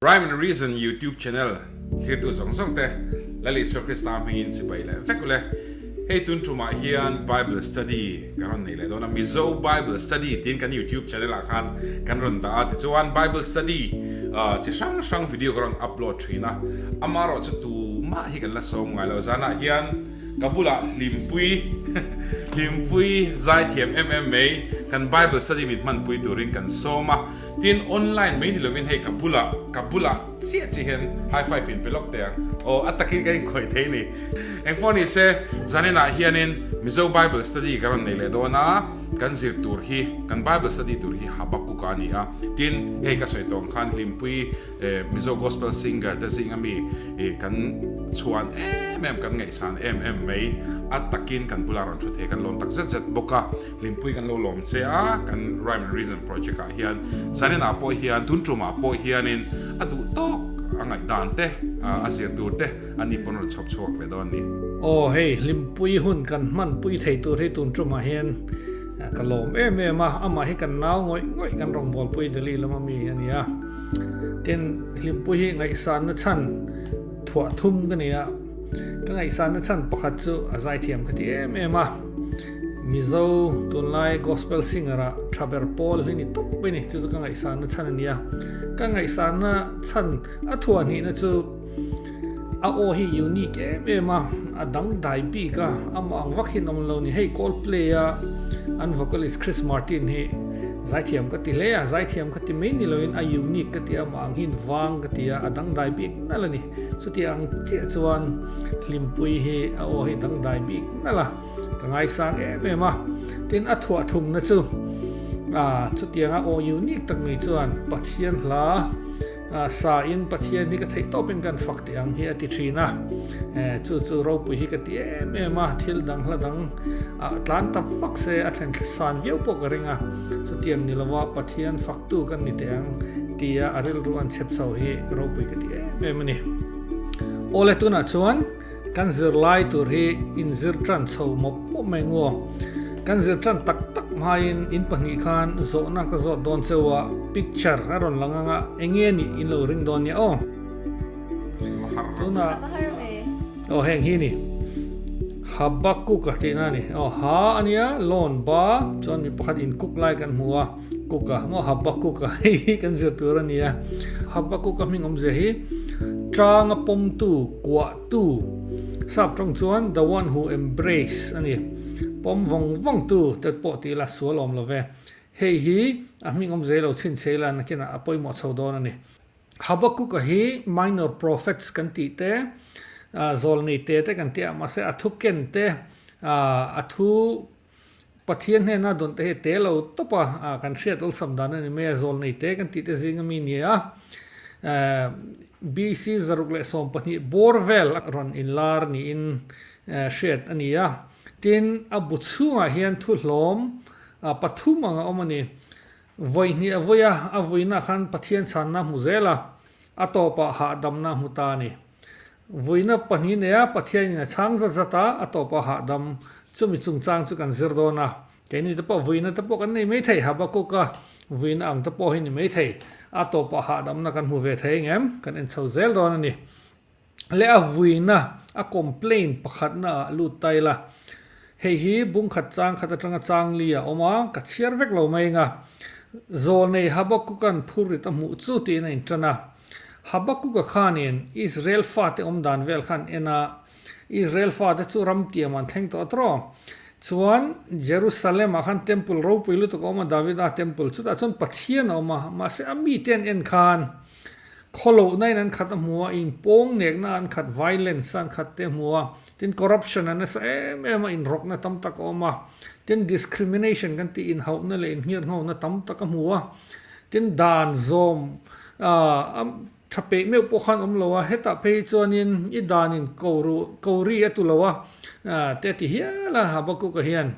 Rhyme and Reason YouTube Channel thirtu zawng zawng te Lal Isua Krista hming in sipai leh vek ule. Hei tun tum ah hian Bible Study kan rawn nei leh dawn a, Mizo Bible Study tiin kan YouTube Channel ah khan kan rawn dah a, tichuan Bible Study chi hrang hrang video kan rawn upload thin a, amah erawh chu tumah hi kan la sawm ngai lo, zan ah hian. Ka bulah Hlimpui, Hlimpui Zaithiam em em mai kan Bible study min hmanpui turin kan sawm a, tin online mai ni lovin hei ka bulah, ka bulah chiah chiah hian high five in pe lawk teh ang, aw a takin ka inkhawih thei ni. Engpawh ni se, zan inah hianin Mizo Bible study ka rawn nei leh dawn a, kan zir tur hi, kan Bible study tur hi Habakkuk-a a ni a, tin hei ka sawi tawng khan Hlimpui Mizo gospel singer te zing ami i kan chhuan em em kan ngaihsan em em mai a takin kan bulah rawn thu thei kan lawm tak zet zet bawk a hlimpui kan lo lawm che a kan rhyme and reason project ah hian Zanin ah pawh hian tun tum ah pawh hian in a duh tawk a ngaih dan te a zir tur te a ni pawn rawn chhawp chhuak ve dawn ni. Aw hei hlimpui hun kan hman pui thei tur hi tun tum ah hian ka lawm em em a amah hi kan nau ngawih ngawih kan rawn bawlpui Delhi lam ami a ni a. Tin, hlimpuii hi ngaihsanna chhan thuah thum ka ni a. Ka ngaihsanna chhan pakhat chu a zaithiam ka ti em em a. Mizo tunlai gospel singer a Thaber Paul hi ni tawp mai ni. Chu chu ka ngaihsanna chhan a nia. Ka ngaihsanna chhan a thuah hnihna chu. A aw hi unique em em a, a dangdai bik a, amah ang vak hian awm lo ni. Hei Coldplay a an vocalist Chris Martin hi zaithiam ka ti hle a, zaithiam ka ti mai ni loin a unique ka ti a, amah ang hian vang ka ti a, a dangdai bik nalh a ni. Chuti ang chiah chuan Hlimpui hi a aw hi dangdai bik nalh a, ka ngaisang em em a. Tin a thuah thumna chu, a chutiang a aw unique tak ni chuan Pathian hla, Sa in Pathian hi ka theih tawp in kan fak teh ang hi a ti thin a. Chu chu ropui hi ka ti em em a, thil dang hla dang ah tlan tam vak se a thlen san viau pawh ka ring a. Chutiang ni lova Pathian fak tu kan ni teh ang tia a rilru an chep chho hi ropui ka ti em em a ni. Awle tunah chuan. Kan zirlai tur hi inzirtan chho mawp mawp mai ngaw. Kan zirtan tak tak hmaiin in pahnih khan zawhna ka zawt dawn cheu a, picture a rawn lang ang a, enge nih in lo ring dawn nia aw. Tunah aw heng hi ni, Habakkuk a tihna a ni. Aw ha a nia, lawn ba chuan mi pakhat inkuk lai kan hmu a. Kuk a, maw Habakkuk a hei hi kan zir tur a nia. Habakkuk a hming awmzia hi Tanga pawmtu, kuahtu, sap tawng chuan the one who embrace a ni. Pawm vawng vawngtu te pawh tih ila sual awm lo ve. Hei hi a hming awmzia lo chhinchhe ila nakinah a pawimawh chho dawn a ni. Habakkuk a hi minor prophets kan tih te, zawlnei te te kan ti a, mahse a thuken te, a thu, Pathian hnena dawnte hi te lo tawpa kan hriat awlsam dan a ni mai a, zawl nei te kan tih te zing a mi ni a. BC zaruk leh sawm pahnih bawr vel a rawn inlar niin hriat a ni a. Tin, a bu chhungah hian thuhlawm pathum ang a awm a ni. Vawi hnih a vawi a, a vuina khan Pathian chhanna hmu zel a, a tawpah hahdamna hmu ta a ni. Vuina pahnih neia Pathianin a chhang zat zat a, a tawp a hahdam. Chumi chungchang chu kan zir dawn a, keini te pawh vuina te pawh kan nei mai thei. Habakuka vuina ang te pawh hi ni mai thei. A tawp a hahdamna kan hmu ve thei eng em? Kan en chho zel dawn a ni. Leh a vuina, a complain pakhatna ah lut ta ila, hei hi bungkhat chang khat atanga changli a awm a, ka chhiar vek lo mai enga, zawlnei Habakukan phurrit a hmuh chu tiin a intan a. Habakuka khanin Israel fate awmdan vel kha an en a, Israel fate chu ramtiam an thleng tawh tawh. Chuan Jerusalemah khan temple ropui lutuk a awm a, Davida temple chutah chuan Pathian a awm a, mahse a mite an en khan khaw lohna in an khat a hmu a, inpawm nekna an khat, violence-a an khat teh a hmu a, Tin, corruption a nasa em em a, inrawkna tam tak a awm a, tin, discrimination kan tih inhauhna leh inhngir nghona tam tak a hmu a, tin, dan zawm a tha peih meuh pawh khan awm lo a, hetah phei hi chuanin i danin ko ru, ko ri a tu lo a te a ti hial a Habakuka hian.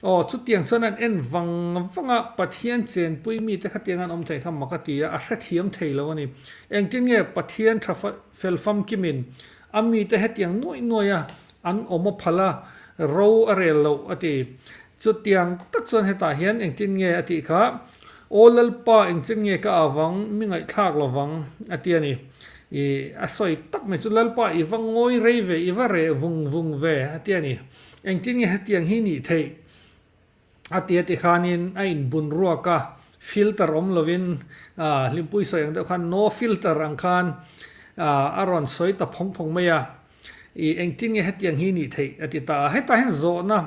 Aw, chutiang chuan an en vang vang a, Pathian chenpui mite khatiang an awm thei kha mak a ti a, a hrethiam thei lo a ni. Engtin nge Pathian tha fa, Fel famkim in, a mite hetiang nuai nuai a an awm a phal a, ro a rel lo a ti. Chutiang tak chuan hetah hian engtin nge a tih kha, Aw Lalpa engchin nge ka ah vang, mi ngaihthlak lo vang a ti a ni. I a sawi tak mai chu, Lalpa i va ngawi rei ve, i va reh vung vung ve a ti a ni. Engtin nge hetiang hi nih theih? A tia tikhanin a in bun ruak a, filter awm lovin Hlimpuii sawi ang deuh khan no filter ang khan a rawn sawi ta phawng phawng mai a, i engtin nge hetiang hi nih theih a ti ta a, hetah hian zawhna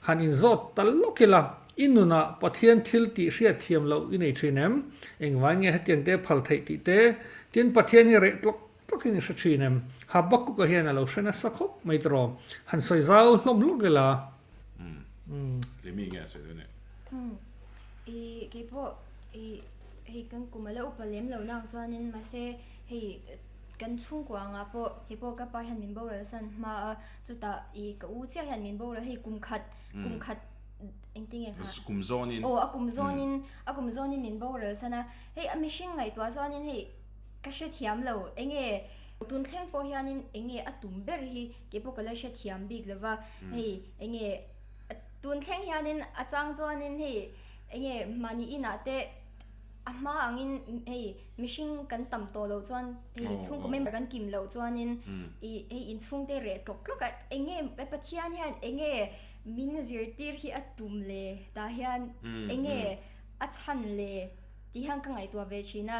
han in zawt ta lawk ila, i nunah Pathian thil tih hriat thiam loh i nei thin em, engvai nge hetiang te phal theih tih te, tin Pathian hi reh tlawk Takin i hre thin em? Habakkuk-a hian a lo hre nasa khawp mai ta raw, han sawi zau hlawm hlawm ve la. Umm. Kei mi nge a sawi daih nih? Umm. I, kei pawh i, hei kan kum a lo upa lem lo nang chuanin mahse hei kan chhungkua angah pawh kei pawh ka pa hian min boral san hma a, chutah i ka u chiah hian min boral hei kum khat, kum khat engtin nge kha? Kum zawnin. Aw, a kum zawnin, a kum zawnin min boral san a. Hei a mihring ngaihtuah chuanin hei. Ka hrethiam lo, enge tun thleng pawh hianin enge a tum ber hi kei pawh ka la hrethiam bik lo va, hei enge tun thleng hianin a chang chuanin hei enge mahni inah te a hma angin hei mihring kan tam tawh loh chuan hei chhungkaw member kan kim loh chuanin i hei inchhungte reh tlawk tlawk a, enge Pathian hian enge min zirtir hi a tum le tah hian enge a chhan le. Tih hian ka ngaihtuah ve thin a.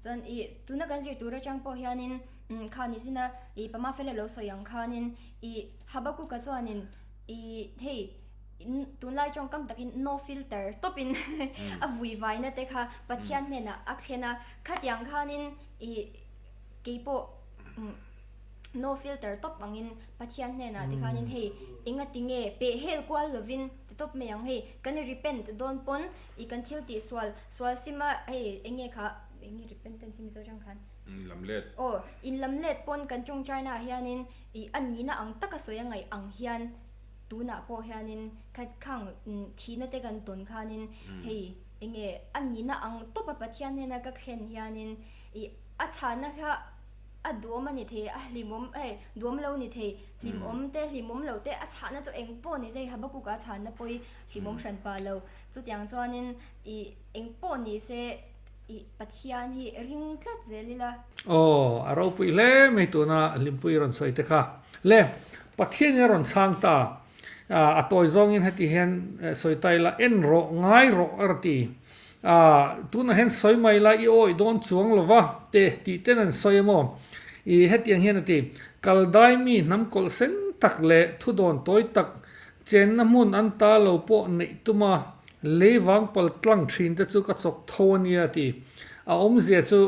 Chuan i tuna kan zir tur atang pawh hianin umm kha ni zin a, i pama fel a lo sawi ang khanin i Habakkuk-a chuanin i hei tunlai tawng kam takin no filter tawpin a vui vai nate kha Pathian hnenah a thlen a. Khatiang khanin i keipawh no filter tawp angin Pathian hnenah te khanin hei engatinge peh hel kual lovin ti tawp mai ang hei kan repent dawn pawn I kan thil tih sual, sual sima hei enge kha, enge repentance hi Mizo tang khan? In lam let. Aw, in lam let pawn kan tawngtainah hianin i an nihna ang taka sawi a ngaih ang hian tunah pawh hianin khatkhang thihna te kan tawn khanin hei enge an nihna ang tawpa Pathian hnena ka thlen hianin i a chhahna kha a duam a ni thei, a hlimawm hei duam lo ni thei, hlimawm te hlimawm lo te a chhahna chu engpawh a ni zai Habakkuk-a chhahna pawhi hlimawm hran pah lo. Chutiang chuanin i eng pawh ni se i Pathian hi ring tlat zel ila. Aw, a ropuih hle mai tuna Hlimpuii a rawn sawi te kha. Le, Pathianin a rawn chhang ta a, a tawi zawngin heti hian sawi ta ila, En rawh, ngai rawh a reti a, tunah hian sawi mai ila i awih dawn chuang lo va te tih ten an sawi emaw i hetiang hian a ti, Kal dai mi hnam kawlh sen tak leh thudawn tawi tak Chenna hmun an ta lo pawh neih tum a, lei vang pal tlang thin te chu ka chawk tho a nia ti. A awmzia chu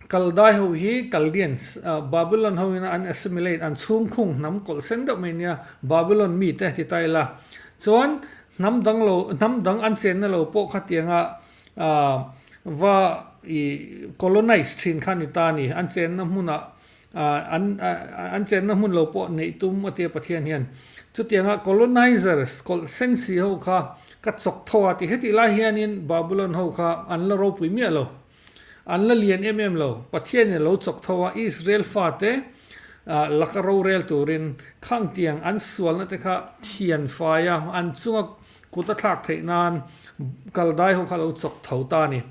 Kaldai ho hi Kaldians, Babylon ho ina an assimilate, an chhungkhung hnam kawlsen deuh mai nia, Babylon mi te ti ta ila. Chuan hnam dang lo, hnam dang an chenna lo pawh kha tianga va ih colonise thin kha a ni ta a ni. An chenna hmunah an chenna hmun lo pawh neih tum a tia Pathian hian. Chutianga colonizers, kawlh sen si ho kha ka chawk tho a ti. Hetih lai hianin Babylon ho kha an la ropui miah lo, an la lian em em lo. Pathianin a lo chawk tho a, Israel fate laka rorel turin khang tiang an sualna te kha thian fai a, an chunga kut a thlak theih nan Kaldai ho kha a lo chawk tho ta a ni.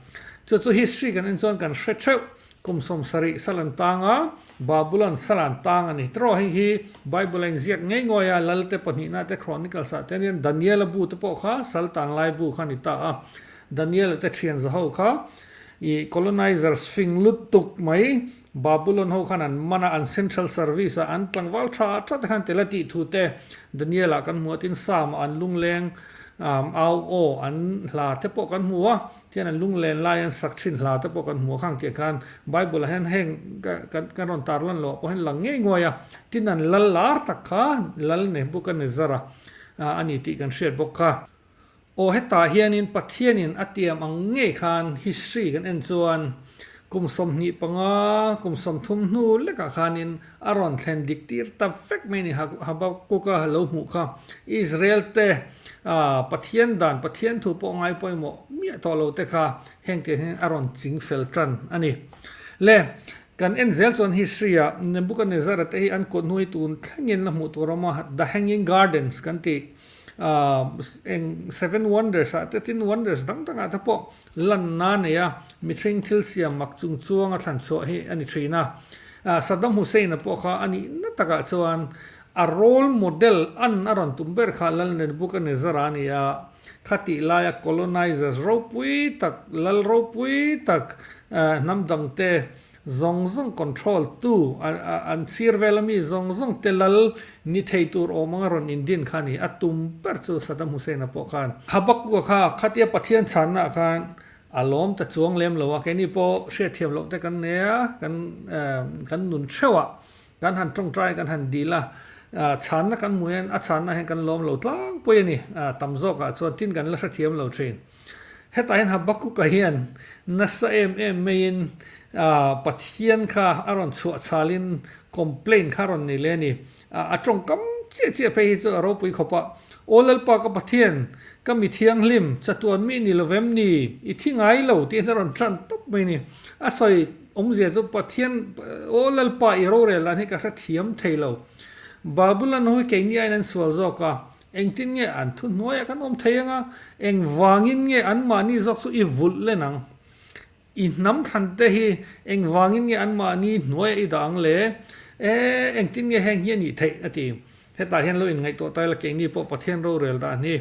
Chu chu history kan en chuan kan hre theuh, Kumsawm sarih salan tanga Babulon salan tang a ni. Tiraw hei hi Bible-a inziak ngei ngawih a, Lalte pahnihna te, Chronicles-a te nen Daniel-a bu te pawh kha Saltan lai bu kha a ni ta a. Daniel-a te thian zaho kha i colonizers fing lut tuk mai Babulon ho khan an man a, an central service-a an tlangval tha tha te khan tela tih thu te Daniel-a kan hmu a, tin Psalm-a an lungleng au aw an hla te pawh kan hmu a. Khian an lunglen lai an sak thin hla te pawh kan hmu a khang tih khan Bible-ah hian heng kan rawn tar lan loh pawh hian lang ngei nguai a, tin an lal lar tak kha lal neh bawk a ni zara a ni tih kan hriat bawk kha. Aw hetah hianin Pathianin a tiam ang ngei khan history kan en chuan kum sawmhnih panga kum sawmthum hnu lekah khanin A rawn thlen dik tir ta vek mai a ni. Habakkuk-a lo hmuh kha Israel te Pathian dan, Pathian thu pawh a ngai pawimawh miah tawh lo te kha heng te hian a rawn ching fel tan a ni. Le, kan en zel chuan history-ah Nebuchadnezzar-a te hi an kawhhnuai tun thlengin la hmuh tur a awm a. The Hanging Gardens kan tih eng Seven Wonders-ah te tin Wonders dang dangah te pawh Lanna neia mithring thil siam mak chung chuanga thlan chhuah hi a ni thin a. Saddam Hussein-a pawh kha a nih na takah chuan a role model an a rawn tum ber kha Lalnren Buchanezara a ni a. Khatih laia colonizers ropui tak, lal ropui tak hnam dangte, zawng zawng control tu an sir vela mi zawng zawng te lal ni thei tur awm anga rawn in din kha ni a tum ber chu Sadam Hussein a pawh khan Habakkuk a kha khatia Pathian chhan na ah khan a lawm ta chuang lem lo a kei ni pawh hriat thiam loh te kan nei a kan kan nun theuh a kan han tawngtai kan han dil a chhan na kan hmuh hian a chhan na ah hian kan lawm lo tlangpui a ni tam zawk ah chuan tin kan la hrethiam lo thin. Hetahin Habakuka hian nasa em em maiin Pathian kha a rawn chhuah chalin complain kha a rawn nei leh a ni. A tawngkam chiah chiah phei hi chu a ropui khawp a, Aw Lalpa ka Pathian, ka mithianghlim, chatuan mi ni lovem ni? I thi ngai lo, tiin a rawn hran tawp mai a ni. A sawi awmzia chu Pathian, Aw Lalpa i rorel dan hi ka hrethiam thei lo. Babylon ho hi keini aiin an sual zawk a, Engtin nge an thu hnuaiah kan awm thei anga? Engvangin nge anmahni zawk chu i vulh len ang? I hnam thlan te hi engvangin nge anmahni hnuaiah i dah ang le? E, engtin nge heng hi a nih theih? a ti. Hetah hian lo inngaihtuah ta ila, keini pawh Pathian rorel dan hi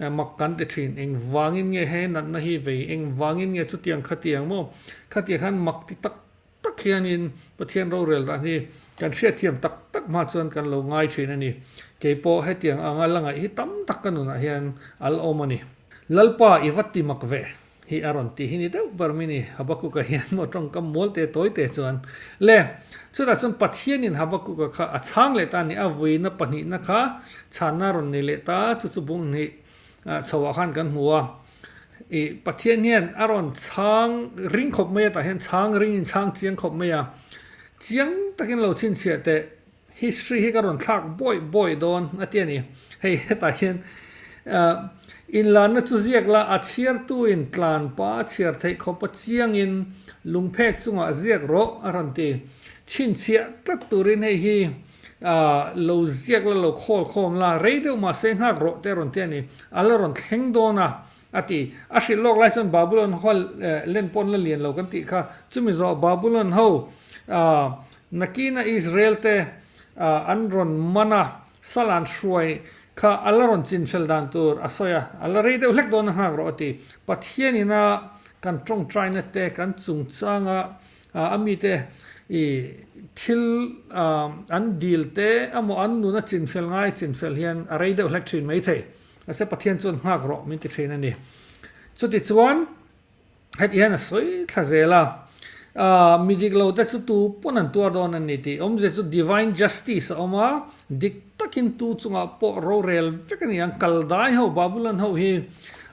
mak kan ti thin. Engvangin nge he natna hi vei? Engvangin nge chutiang khatiang maw? Khatiang khan mak ti tak. tak hianin Pathian rorel dah hi kan hriatthiam tak tak hma chuan kan lo ngai thin a ni. Keipawh hetiang anga la ngaih hi tam tak ka nunah hian a la awm a ni. Lalpa i va ti mak ve hi a rawn ti hi ni deuh ber mai ni. Habakuka hian maw tawngkam mual te tawi te chuan le. Chutah chuan Pathianin Habakuka kha a chhang leh ta a ni a, vuina pahnihna kha chhanna a rawn nei leh ta chu chu bung hnih chhoah khan kan hmu a. I Pathian hian a rawn chhang ring khawp mai a, tah hian chhang ring in chhang chiang khawp mai a, chiang takin lo chhinchhiah teh, history hi ka rawn thlak buai buai dawn a ti a ni. Hei hetah hian inlanna chu ziak la, a chhiartu in tlan pa chhiar theih khawp a chiang in lungphek chungah ziak rawh a rawn ti. Chhinchhiah tlat turin hei hi. A lo ziak la lo khawl khawm la, rei deuh mahse nghak rawh te rawn ti a ni. A la rawn thleng dawn a, a ti. A hrilh lawk lai chuan Babulon hoa len pawn la lian lo kan tih kha. Chumi zawh Babulon ho nakina Israel te an rawn man a, salan hruai kha a la rawn chinfel dan tur a sawi a, a la rei deuh hlek dawn a nghak rawh a ti. Pathian ina kan tawngtaina te kan chungchanga A mite i thil an dil te emaw an nun a chinfel ngai chinfel hian a rei deuh hlek thin mai thei. Mahse Pathian chuan nghak rawh min ti thin a ni. Chutichuan heti hian a sawi thla zel a, mi dik lo te chu tu pawn an tuar dawn a ni tih. Awmze chu divine justice a awm a, dik. takin tu chungah pawh rorel vek a ni ang, Kaldai ho, Babylon ho hi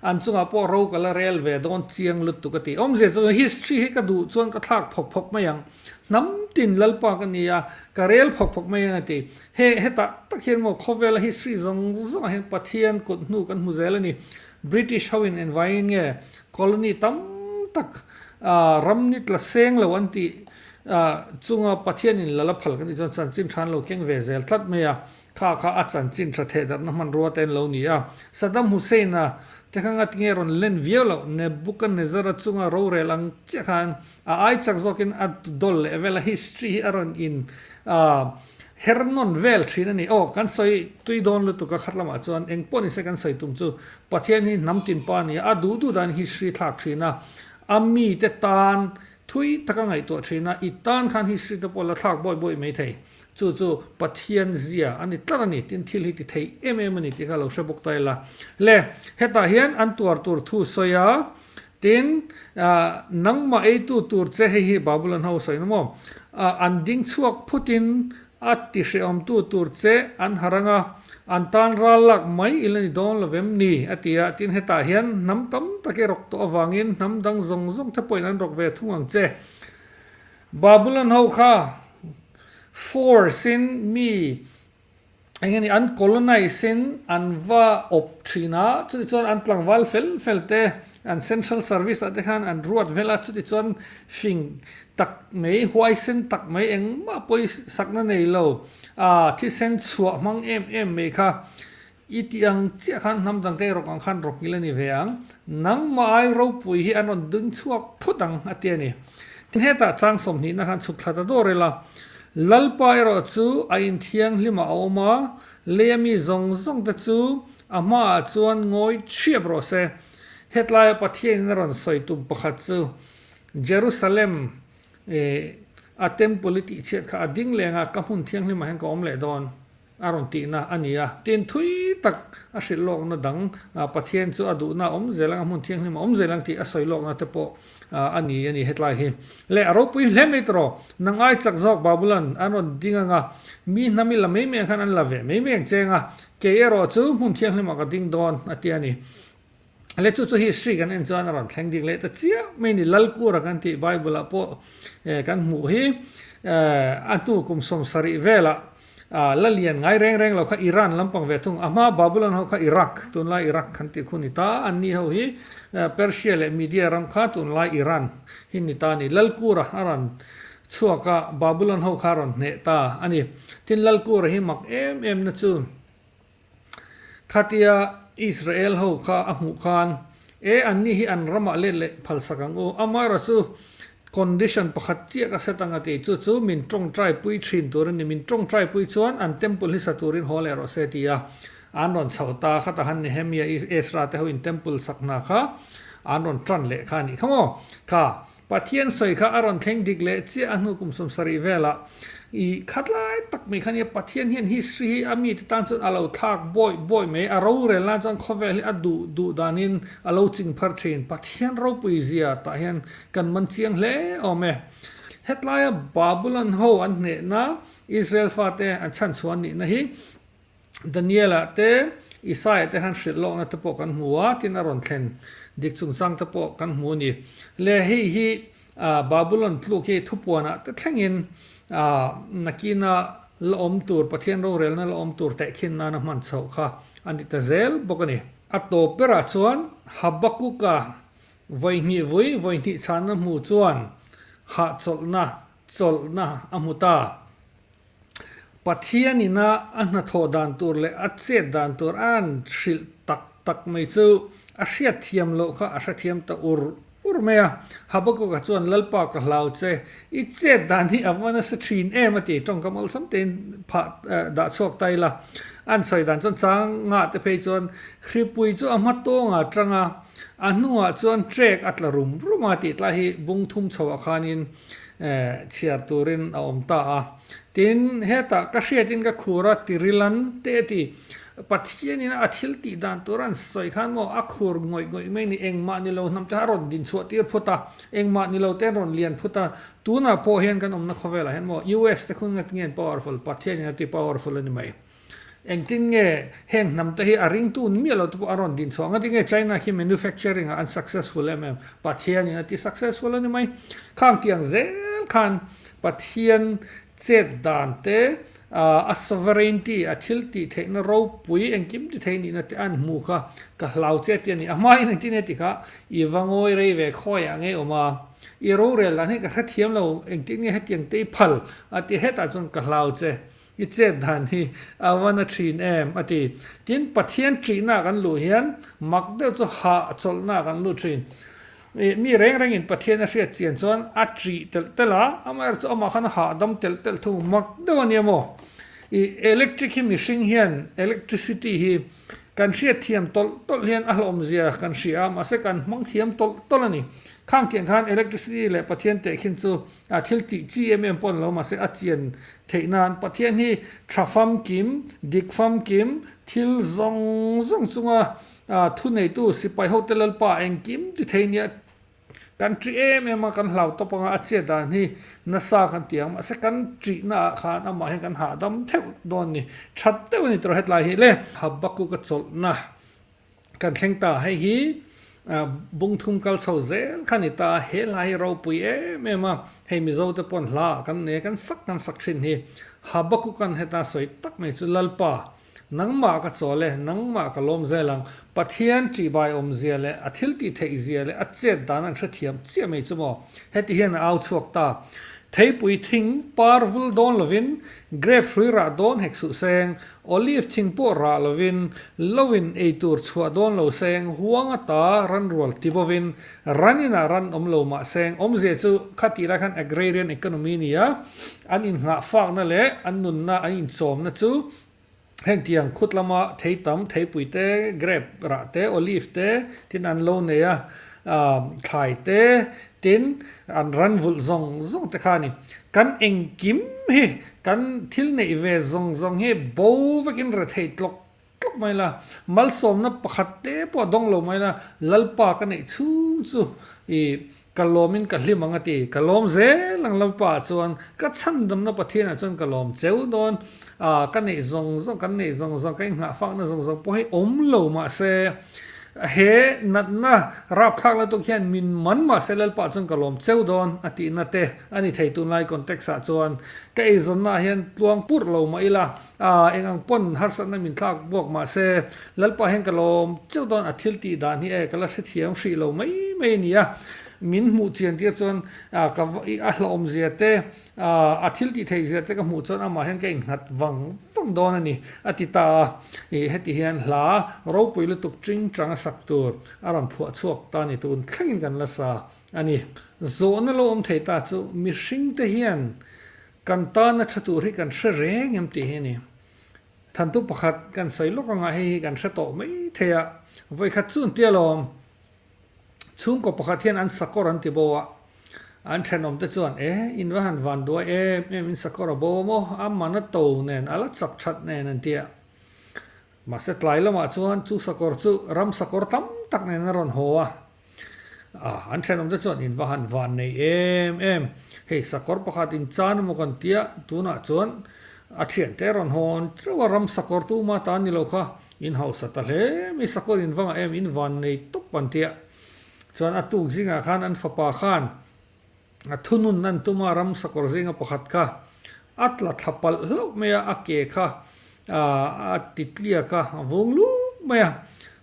an chungah pawh rokal a rel ve dawn chiang lutuk a ti. Awmzia chu history hi ka duh chuan ka thlak phawk phawk mai ang, hnam tin Lalpa ka ni a, ka rel phawk phawk mai ang a ti. Heh, heta tak hian maw khawvela history zawng zawngah hian Pathian kut hnu kan hmu zel a ni. British hoin en vaiin nge colony tam tak ram nitla seng lo an tih Ah, chunga Pathianin la la phal ka nih chuan chanchin than lo keng ve zel tlat mai a, kha kha a chanchin tha thehdarhna hmanrua te an lo ni a. Saddam Hussein-a te kha ngat nge rawn len viau lo, Nebuchadnezzar-a chunga rorel ang chiah khan a ai chak zawkin a dawl leh vel a history hi a rawn in ah her nawn vel thin a ni. Aw, kan sawi tui dawn lutuk a khat lamah chuan eng pawh ni se kan sawi tum chu Pathian hi hnam tinpa a ni a, a duh duh dahin history a thlak thin a, a mite tan Thui taka ngaihtuah thin a, i tan khan hi Sri te pawh la thlak buai buai mai thei. Chu chu Pathian zia a ni tlat a ni, tin thil hi ti thei em em a ni tih kha a lo hre bawk ta ila. Le, hetah hian an tuar tur thu sawi a, tin, nangmah eitu tur che hei hi Babylon ho a sawi na maw? An ding chhuak phutin A tihreawmtu tur che an ha rang a, an tan ral lak mai ila ni dawn lo vem ni? a ti a, tin hetah hian hnam tam tak i rawk tawh avangin hnam dang zawng zawng te pawhin an rawk ve thung ang che. Babylon ho kha force in mi eng nge ni an colonize in an va awp thin a, chutichuan an tlangval fel fel te, An central service-ah te khan an ruat hmel a, chuti chuan hring tak mai, huaisen tak mai engmah pawh i sakna nei lo. Aa, thisen chhuah hmang em em mai kha i tih ang chiah khan hnam tangkai rawk ang khan rawkil a ni ve ang. Nangmah-ai ropui hi an rawn ding chhuak phut ang a ti a ni. Tin hetah chang sawmhnihna khan chhuk thla ta dawr ila, Lalpa erawh chu a inthianghlimah a awm a, Leia mi zawng zawng te chu a hma ah chuan ngawi thiap rawh se. Hetlai a Pathian in a rawn sawi tum pakhat chu Jerusalem eh a temple i tih chhiat kha a ding leng a, ka hmun thianghlim ah hian ka awm leh dawn a rawn tih na a ni a. Tin thui tak a hrilh lawk na dang Pathian chu a duh na awm zel ang a hmun thianghlim ah awm zel ang tih a sawi lawk na te pawh a ni a ni hetlai hi le a ropuiin hle mai tawrh aw na ngai chak zawk babulan an rawn ding anga mi hna mi la mai mai ang khan an la ve mai mai ang che anga kei erawh chu hmun thianghlim ah ka ding dawn a ti a ni le chu chu history kan en chuan a rawn thleng dik leh ta chiah mai a ni lalkura kan tih bible ah pawh kan hmuh hi a hnu kum sawm sarih velah A la lian ngai reng reng lo kha Iran lampang ve thung. A hma Babylon ho kha Iraq, tunlai Iraq khan tih khu a ni ta. An ni ho hi Persia leh Media ram kha tunlai Iran hi ni ta a ni. Lalkura a rawn chhuak a, Babylon ho kha a rawn hneh ta a ni. Tin Lalkura hi mak em em na chu. Khatia Israel ho kha a hmuh khan, E, anni hi an ramah let leh phalsak ang u. Amara chu condition pakhat chiaka set anga tih chu chu min tawngtai pui thin tur a ni. Min tawngtai pui chuan an temple hi sa turin haw leh rawh se ti a an rawn chho ta. Khata han Nehemiah, Ezra te ho in temple sak hna kha an rawn tan leh kha a ni kha maw? Kha. Pathian sawi kha a rawn thleng dik leh chiah a hnu kum sawm sarih vela i khatlai tak mai kha nia. Pathian hian history hi a mite tan chuan a lo thlak bawih bawih mai. A rorel nan chuan khawvel hi a duh duh danin a lo ching phar thin. Pathian ropui zia tah hian kan man chiang hle awm e. Hetlaia Babylon ho an hnehna Israel fate an chhan chhuan nihna hi Daniela te Isaiah te han hrilh lawkna te pawh kan hmu a, tin a rawn thlen dik chungchang te pawh kan hmu a ni. Lehi hi Babylon tluk hi thupuana te thlengin nakina la awm tur, Pathian rorelna la awm tur tehkhin nana hman chhoh kha a ni ta zel bawk a ni. A tawp berah chuan Habakkuk-a vawi hnih vui, vawi hnih chhanna hmuh chuan hahchawlhna, chawlhna a hmu ta. Pathian in a a hnathawh dan tur leh a chet dan tur a'n hrilh tak tak mai chu a hriatthiam loh kha a hrathiam ta ur ur mai a. Habakkuk-a chuan, Lalpa ka hlau che, i chet dan hi a va nasa thin em a ti. Tawngka malsam tein phah dah chhuak ta ila a'n sawi dan chuan changa te phei chuan hripui chu a hma tawng a tang a, a hnungah chuan trek a tla rum rum a tih tlai hi bungthum chhoh ah khanin chhiar turin a awm ta a. Tin, hetah ka hriatin ka khur a, Tirilan te a ti. Pathianin a thil tih dan tur an sawi khan maw, a khur ngawih ngawih mai ni, engmah ni lo hnam te kha a rawn din chhuah tir phut a, engmah ni lo te an rawn lian phut a. Tunah pawh hian kan awmna khawvelah hian maw US te khun nge an powerful, Pathianin a ti powerful a ni mai. Engtin nge heng hnam te hi a ringtu ni miah lo te pawh a rawn din chhuah ang a, tinge China hi manufacturing ah an successful em em? Pathian in a ti successful a ni mai. Khang ti ang zel khan Pathian chet dan te, aah a sovereignty, a thil tih theih na ropui engkim ti theih nihna te an hmu kha ka hlau che ti a ni. A hma in engtin nge ti kha i va ngawi rei ve khawi ang e awma i rorel dan hi ka hrethiam lo, engtin nge hetiang te i phal a ti hetah chuan ka hlau che. I chet dan hi a vana thin em? a ti. Tin, Pathian ṭihna kan luh hian mak deuh chu hah chawlhna kan lut thin. I, mi reng rengin Pathian a hriat chian chuan a ṭih telh telh a, amaherawhchu amah khan a hah dam telh telh thu mak deuh a nia maw? I, electric hi mihring hian electricity hi kan hriat thiam tawlh tawlh hian a hlawmzia kan hria a, mahse kan hmang thiam tawlh tawlh a ni. Khangkiahng khan electricity leh Pathian teh khin chu A thil tih chi em em pawh an lo mahse a chian theih nan Pathian hi tha famkim, dik famkim, thil zawng zawng chunga thu neitu sipai hote Lalpa engkim ti thei nia kan ṭih em em a kan hlauhtawp anga a chiah dan hi nasa kan ti ang mahse kan ṭih na ah khan amah hian kan hahdam theuh dawn a ni. Ṭhat deuh a ni tawrh hetlai hi le. Habakkuk a chawlhna. Kan thleng ta hei hi bung thum kal chho zel kha ni ta, he hla hi ropui em em a, hei Mizo te pawn hla ah kan nei kan sak kan sak thin hi Habakkuk an het a sawi tak mai chu Lalpa nangmah ka chawl e, nangmah ka lawm zel ang, Pathian tibai awm zia leh a thil tih theih zia leh a chet dan an hrethiam chiah mai chu maw, heti hian a au chhuak ta, theipui thing par vul dawn lovin Grape hrui rah dawn hek suh seng, olive thing pawh rah lovin, loin ei tur chhuah dawn lo seng, huanga ta ran rual ti bovin, ranin ah ran awm lo mah seng, awmzia chu kha tih lai khan agrarian economy nia, an inhnghah fakna leh an nunna an inchawmna chu, Hengtiang khut lama thei tam, theipui te, grape rah te, olive te tin an lo nei a, thlai te tin an ran vulh zawng zawng te kha a ni. Kan engkim hi, kan thil neih ve zawng zawng hi bo vekin re thei tlawk tlawk mai la, malsawmna pakhat te pawh dawng lo mai la, Lalpa ka neih chhung chu i Ka lawmin ka hlim ang a ti. Ka lawm zel ang lo pa chuan ka chhandamna Pathianah chuan ka lawm cheu dawn a, ka neih zawng zawng, kan neih zawng zawng, ka inghah fakna zawng zawng pawh hi awm lo mahse, he natna rapthlak lutuk hian min man mahse Lalpa chuan ka lawm cheu dawn a tihna te a ni thei tunlai context ah chuan ka eizawnnaah hian tluang purh lo mah ila, A eng ang pawn harsatna min thlak bawk mah se, Lalpa hian ka lawm cheu dawn a thil tih dan hi e ka la hrethiam hrih lo mai mai a nia. Min hmuh chian tir chuan a hlauhawmzia te, a thil tih theih zia te ka hmuh chuan amah hian ka innghat vang vang dawn a ni, a ti ta a. Heti hian hla ropui lutuk ṭing ṭang a sak tur a rawn phuah chhuak ta ni tun thlengin kan la sa a ni. Zawhna lo awm thei ta chu mihringte hian Kan tana ṭha tur hi kan hre reng em tih hi a ni. Thantûk pakhat kan sawi lawk anga hei hi kan hre tawh mai thei a, vawikhat chu ntia lawm, chhungkaw pakhat hian an sakawr an ti bo a, an ṭhenawmte chuan e, inva han vanduai em em in sakawr a bo maw, a man a to nen, a la chak ṭhat nen an ti a. Mahse tlai lamah chuan chu sakawr chu ram sakawr tam tak nen a rawn haw a. Ah, an thenawm te chuan in va han van nei em em. Hei sakawr pakhat in chan maw kan tia, tunah chuan a thian te a rawn hawn teuh a, ram sakawr tu ma ta ni lo kha, in hausa ta hle mai, sakawr in vangah em in van nei tawp an tia. Chuan a tuk zingah khan an fapa khan a thununna an tum a, ramsa kawr zenga pakhat kha a tla thla palh hlauh mai a, a ke kha a titliak a, a vung luk mai a,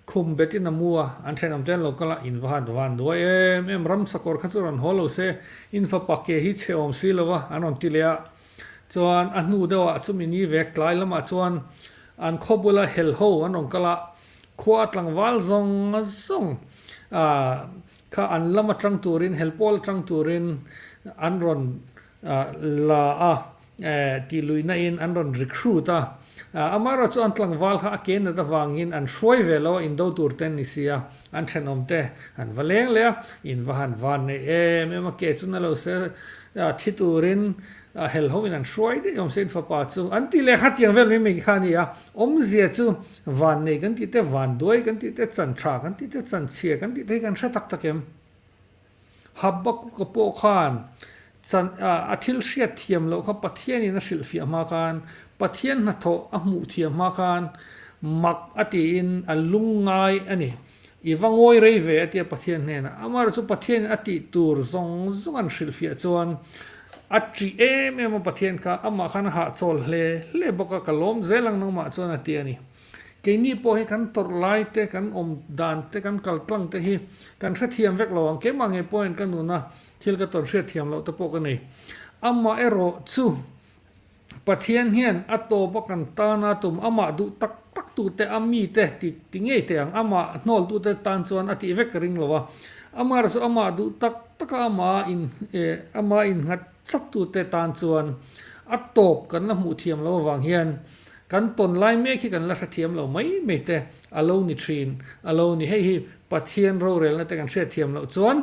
khum betin a mu a, an thenawm te an lo kal a, in va han van duai em em, ramsa kawr kha chu rawn haw lo se, in fapa ke hi chheawm si lo a, an rawn ti leh a, chuan a hnu deuh ah chu mini vek tlai lamah chuan an khaw bula hel ho an rawn kal a, Khua tlangval zawnga zawng kha an lam atang turin, helpawl atang turin an rawn la a, tih luihnain an rawn recruit a. Amaherawhchu chuan tlangval kha a ke nat avangin an hruai ve lo a, indo turte an ni si a, an thenawmte han va leng leh a, in va han van nei em em a, ke chu na lo se thi turin hel hoin an hruai daih awm se in fapa chu an ti leh kha tiang vel mai mai kha a ni a, awmzia chu Vannei kan tih te, vanduai kan tih te, chantha kan tih te, chanchhia kan tih te hi kan hre tak tak em? Habakuka pawh khan a thil hriat thiam loh kha Pathianin a hrilh fiah hma khan, Pathian hnathawh a hmuh thiam hma khan mak a tiin a lungngai a ni. I va ngawi rei ve a tia Pathian hnenah. Amah erawh chu Pathianin a tih tur zawng zawng an hrilh fiah chuan a ṭih em em a Pathian kha. Amah khan a hahchawl hle hle bawk a, ka lawm zel ang nangmah chuan a ti a ni. Keini pawh hi kan tawrh laite, kan awm dan te, kan kal tlang te hi kan hrethiam vek lo ang. Keimah nge pawhin ka nuna thil ka tawn hriat thiam loh te pawh ka nei. Amah erawh chu Pathian hian a tawpa kan tana tum amah duh tak tak tu te a mi te ti ti ngei thei ang. Amah a hnawltu te tan chuan a tih vek ka ring lo a. Amara chu amah duh tak tak a ama in eh ama in nghat sat tu te tan chuan a tawp kan la hmuh thiam lo avang hian kan tawn lai mek hi kan la hrethiam lo mai mai te. A lo ni thin, a lo ni. Hei hi Pathian rorelna te kan hriatthiam loh chuan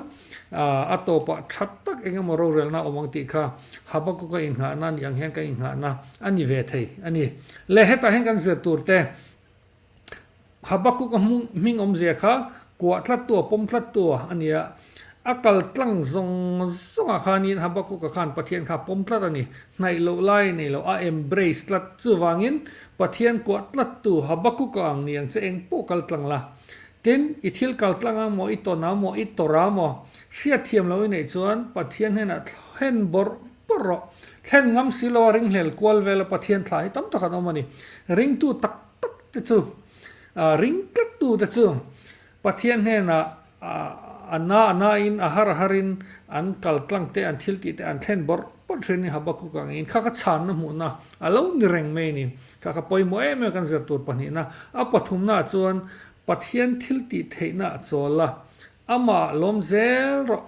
a tawpah tha tak eng emaw rorelna a awm ang tih kha Habakuka inngahna nih ang hian kan inngahna a ni ve thei a ni. Leh hetah hian kan zir tur te Habakuka hming awmzia kha Kuah tlattu a pawm tlattu a ni a, a kal tlang zawng zawngah khanin Habakuka khan Pathian kha a pawm tlat a ni. Hnaih loh lai nei lo, a embrace tlat. Chuvangin, Pathian kuah tlattu Habakuka ang ni ang che eng pawh kal tlang la. Tin, i thil kal tlang ang maw, i tawn ang maw, i tawrh ang maw, hriatthiam lo i neih chuan Pathian hnenah thlen bawrh bawrh rawh. Thlen ngam si lo a, ringhlel kual vela Pathian thla hi tam tak an awm a ni. Ringtu tak. tak te chu, ring tlat tu te chu Pathian hnenah a na a na in, a har a har in an kal tlang te, an thil tih te an thlen bawrh bawrh thin in Habakkuk ang in kha ka chhanna hmuhna a lo ni reng mai ni. Kha ka pawimawh em em kan zir tur pahnihna. A pathumnaah chuan Pathian thil tih theihna a chawl a, Amah lawm zel rawh.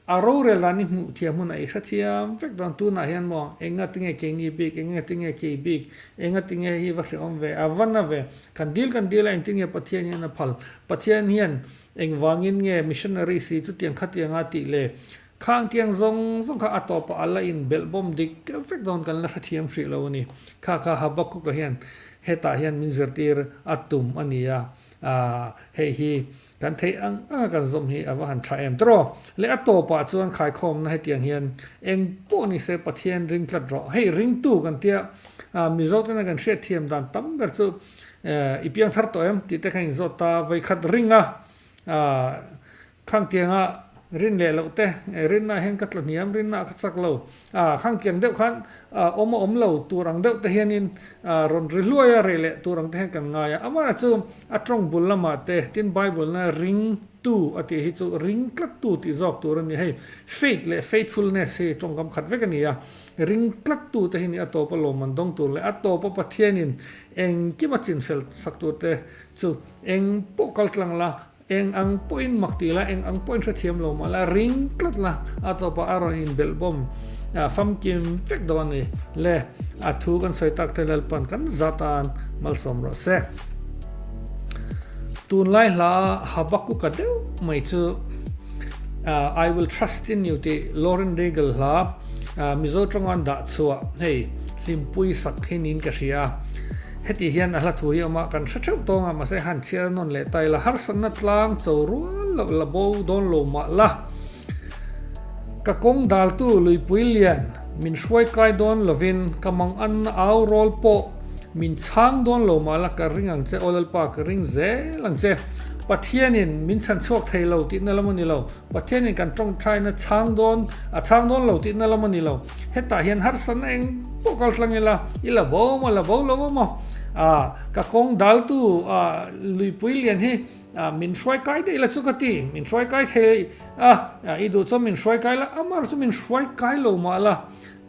A rorel dan i hmuh thiam hmun a i hrethiam vek dawn tunah hian maw, enga tinge kei ni bik, enga tinge kei bik, enga tinge hi va hrehawm ve, a va na ve, kan dil kan dil a, engtinge Pathian hian a phal, Pathian hian engvangin nge missionary si chutiang khatiang a tih leh khang tiang zawng zawng kha a tawp a a la in belh bawm dik vek dawn kan la hrethiam hrih lo a ni. Kha kha Habakkuk-a hian hetah hian min zirtir a tum a nia, aah, hei hi Kan theih ang anga kan zawm hi a va han tha em tawh. Leh a tawpah chuan khaikhawmna hetiang hian eng pawh ni se Pathian ring tlat rawh. Hei ringtu kan tia Mizo tena kan hriat thiam dan tam ber chu i piang thar tawh em tih te kha in zawt ta. Voikhat ringa Khangtianga rin leh loh te rinna hian ka tla hniam rinna kha chak lo. Khang kiang deuh khan awm a awm lo tur ang deuh te hianin rawn ri hluai a rei leh tur ang te hian kan ngai a. Amah chu a tawng bul lamah te tin Bible-a ring tu a tih hi chu ring tlat tu tih zawk tur a ni. Hei faith leh faithfulness hi tawngkam khat vek a ni a, ring tlat tu te hi nia a tawpa lawmman dawng tur leh a tawpa Pathianin engkim a chinfel sak tur te chu eng pawh kal tlang la Eng ang pawhin mak ti la, eng ang pawhin hrethiam lo mah la, ring tlat la a tawpah a rawn inbelh bawm a, famkim vek dawn a ni le. A thu kan sawi tak thei lalpan kan za tan malsawm rawh se. Tunlai hla a Habakuka deuh mai chu I will trust in you tih Lauren Daigle hla Mizo tawng a an dah chhuah hei hlimpui sak hi niin ka hria. Hetih hian a hlathu hi awm a, kan hre theuh tawng a, mahse han chhiar a nawn leh ta ila, harsatna tlang cho rual loh la bo dawn lo mah la, ka kawng daltu Luipui Lian min hruai kai dawn lovin ka mang anna au rawl pawh min chhang dawn lo mah la, ka ring ang che aw lalpa, ka ring zel ang che, Pathianin min chhan chhuak thei lo tihna lam a ni lo. Pathian in kan tawngthain a chhang dawn, a chhang dawn lo tihna lam a ni lo. Hetah hian harsa na eng pawh kal tlang ila, i la bo maw, la bo lo maw, ah, ka kawng daltu, ah, luipui lian hi, ah, min hruai kai daih ila chu ka ti, min hruai kai thei a, ah, i duh chuan min hruai kai la, amar chu min hruai kai lo mah la.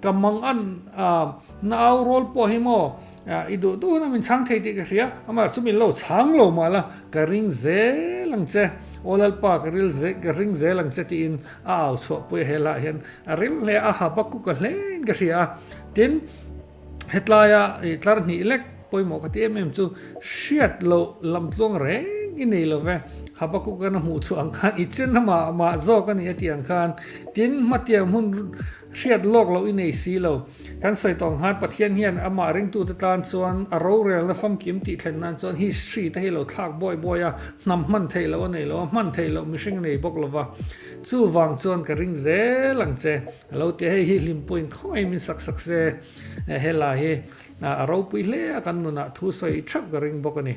Ka mang an a, na au rawl pawh hi maw i duh duh hun a min chhang thei tih ka hria, amaherawh chu min lo chhang lo mah la, ka ring zel ang che, aw Lalpa ka ril zel ka ring zel ang che tiin a au chhuah pui a he lah hian a ril hle a, a pakuk a hle in ka hria a, tin hetlai a tlar hnih lek pawimawh ka ti em em chu hriat loh lam tluang reng i nei love, Habakuka na hmuh chhuah ang khan i chen a mah mah zawk a nia tih ang khan, tin hmatiang hun Hriat lawk loh i nei si lo. Kan sawi tawh ang han, Pathian hian amah ringtute tan chuan a rorelna famkim tihthlen nan chuan history te hi lo thlak buai buai a, hnam hman theih loh a nei lo a, hman theih loh mihring a nei bawk lo va. Chuvang chuan ka ring zel ang che. A lo ti a, hei hi hlimpuiin khawngaiin min sak sak se e, he la hi a ropui hle a kan nunah thu sawi thap ka ring bawk a ni.